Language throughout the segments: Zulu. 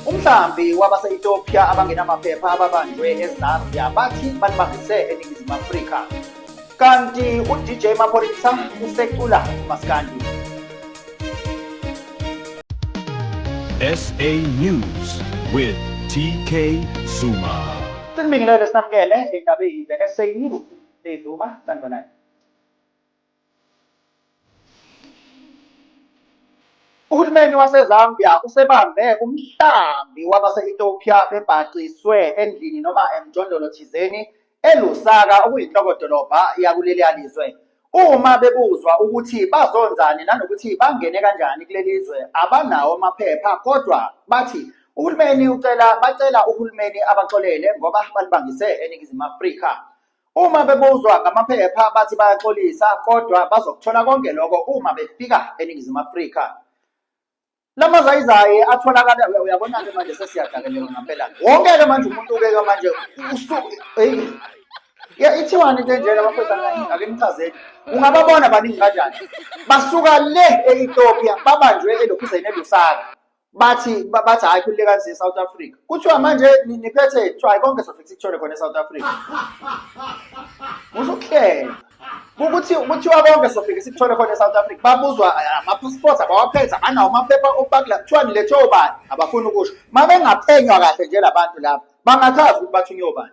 Umhlambi wabase-Ethiopia abangenamaphepha ababanjwe eZambia bathi balibambise eNingizimu Afrika. Kanti uDJ Maphorisa usecula umaskandi. SA News with TK Zuma. Sinibingelele sinamukele indaba eyize SA News. Sizuma sanibonani. Uhulumeni waseZambia usebambe umhlambi wabase-Ethiopia bebhaciswe endlini noma emjondolo thizeni eLusaka okuyinhloko-dolobha yakuleliya lizwe. Uma bebuzwa ukuthi bazonzani nanokuthi bangene kanjani kuleli zwe abanawo amaphepha kodwa bathi uhulumeni ucela bacela uhulumeni abaxolele ngoba balibangise eNingizimu Afrika. Uma bebuzwa ngamaphepha bathi bayaxolisa kodwa bazokuthola konke lokho uma befika eNingizimu Afrika. La mazayizayi atholakala uyabona-ke manje sesiyadakeleka ngampela wonke-ke manje umuntu ubeka manje usuku eyi ya ithiwani into enjena bafethu ake nichazeni ungababona baningi kanjani basuka le e-ethiopia babanjwe elokhuzeni elusaka bathi bathi hayi khulile kanzi eSouth Africa kuthiwa manje niphethe kuthiwa hayi konke sofika sikuthole khona eSouth Africa uzokuhlela ukuthi kuthiwa konke sofika sikuthole khona eSouth Africa babuzwa eh, ama-passport abawaphethe abanawo amaphepha okubakula kuthiwa nilethe obani abafuni ukusho uma bengaphenywa kahle nje labantu laba bangachazi ukuthi bathunywe obani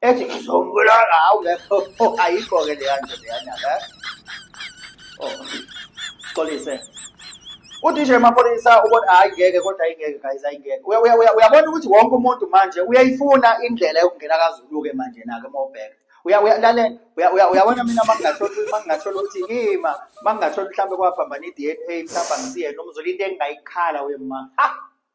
ethi ngizombulala hawu lapho oh, ayikho-ke leya nto leyana la oh xolise udj maphoyisa ubona hayi ngeke kodwa ayingeke guys ayingeke Uya- uya- uya- uyabona ukuthi wonke umuntu manje uyayifuna indlela yokungena kazulu-ke manje nake uma ubheka Uya- uya- lalela Uya- uya- uyabona mina uma ngingatholi uma ngingatholi ukuthi ima uma ngingatholi mhlawumbe kwaphambana i-d n a mhlawumbe angisiyena umzulu into engingayikhala wema ha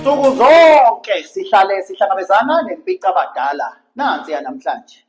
Nsuku zonke sihlale sihlangabezana nempicabadala nansi yanamhlanje.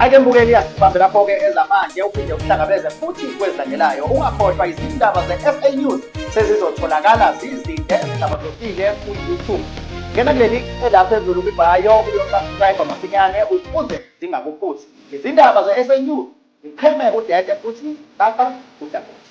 Ake mbukeli asibambe lapho-ke ezamanje uphinde uhlangabeze futhi kwezilandelayo ungakhohlwa izindaba ze-sa news sezizotholakala zizinde ezihlabahlosile ku-youtube ngena kuleli ela phezulu kwibhayo uyosubscribe masinyane ukuze zingakuphuthi izindaba ze-sa news ziqheme udede futhi baka udakuthi